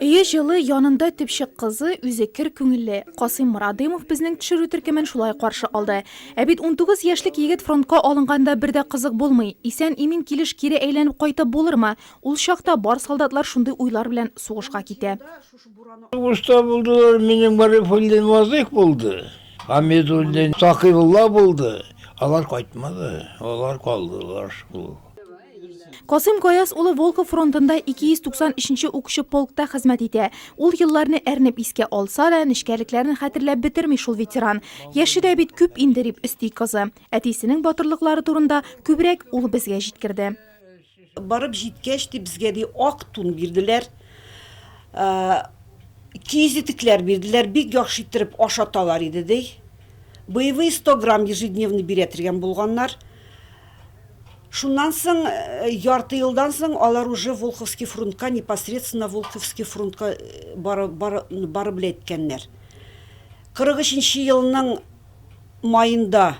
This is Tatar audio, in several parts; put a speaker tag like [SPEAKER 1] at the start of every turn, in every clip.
[SPEAKER 1] Өе җылы, янында төпчек кызы, үзе кер күңелле. Касыйм Морадымов безнең төшерү төркемен шулай каршы алды. Ә бит 19 яшьлек егет фронтка алынганда бер дә кызык булмый. Исән-имин килеш кире әйләнеп кайтып булырмы? Ул чакта бар солдатлар шундый уйлар белән сугышка китә. Сугышта
[SPEAKER 2] булдылар, минем Гарифуллин Вазыйх булды, Хәмидуллин Сакыйбулла булды. Алар кайтмады, алар калдылар шул.
[SPEAKER 1] Касыйм Гаяз улы Волхов фронтында 293 нче укчы полкта хезмәт итә. Ул елларны әрнеп искә алса да, нечкәлекләрен хәтерләп бетерми шул ветеран. Яше дә бит күп инде, дип өсти кызы. Әтисенең батырлыклары турында күбрәк ул безгә җиткерде. Барып
[SPEAKER 3] җиткәч, ди, безгә, ди, ак тун бирделәр, киез итекләр бирделәр, бик яхшы иттереп ашаталар иде, ди. Боевые 100 грамм ежедневный бирә тергән булганнар. Шуннан соң, ярты елдан соң алар уже Волховский фронтка, непосредственно Волховский фронтка барып эләккәннәр. 43 нче елның маенда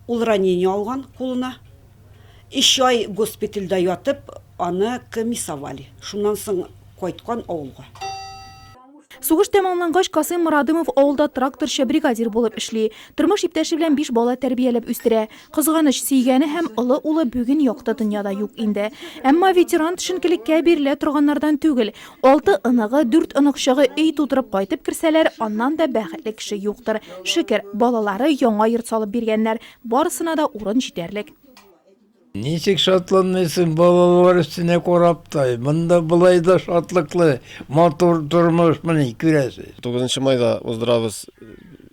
[SPEAKER 3] ул ранение алган кулына. Өч ай госпитальдә ятып, аны комиссовали. Шуннан соң кайткан авылга.
[SPEAKER 1] Сугыш тәмамлангач, Касыйм Морадымов авылда тракторчы, бригадир булып эшли. Тормыш иптәше белән биш бала тәрбияләп үстерә. Кызганыч, сөйгәне һәм олы улы бүген якты дөньяда юк инде. Әмма ветеран төшенкелеккә бирелә торганнардан түгел. Алты оныгы, дүрт оныкчыгы өй тутырып кайтып керсәләр, аннан да бәхетле кеше юктыр. Шөкер, балалары яңа йорт салып биргәннәр, барысына да урын җитәрлек.
[SPEAKER 2] Ничек шатланмыйсың, балалар өстенә карап та, монда болай да шатлыклы, матур тормышмыни, күрәсез. Тугызынчы майда
[SPEAKER 4] уздырабыз,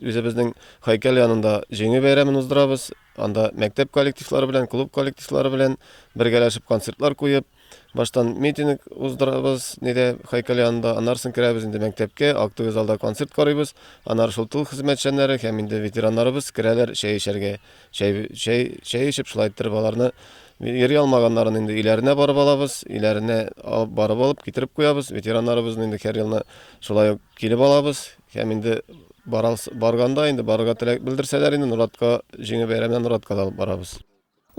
[SPEAKER 4] үзебезнең һәйкәл янында Җиңү бәйрәмен уздырабыз. Анда мәктәп коллективлары белән, клуб коллективлары белән бергәләшеп концертлар куеп, Баштан митинг уздырабыз, неде Хайкал янында, аннары соң керәбез инде мәктәпкә, актовый залда концерт карыйбыз, аннары шул тыл хезмәтчәннәре һәм инде ветераннарыбыз керәләр чәй эчәргә. Чәй, чәй, чәй эчеп шулай иттереп аларны йөри алмаганнарын инде өйләренә барып алабыз, өйләренә алып барып алып китереп куябыз. Ветераннарыбызны инде һәр елны шулай ук килеп алабыз һәм инде барганда инде барырга теләк белдерсәләр инде Норатка җиңү бәйрәменә Норатка да алып барабыз.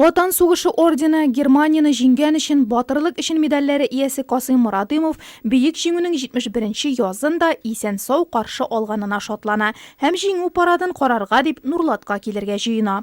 [SPEAKER 4] Ватан сугышы
[SPEAKER 1] ордены, Германияне җиңгән өчен Батырлык өчен медальләре иясе Касыйм Морадымов Бөек Җиңүнең 71 нче язын да исән-сау каршы алганына шатлана һәм Җиңү парадын карарга дип Нурлатка килергә җыена.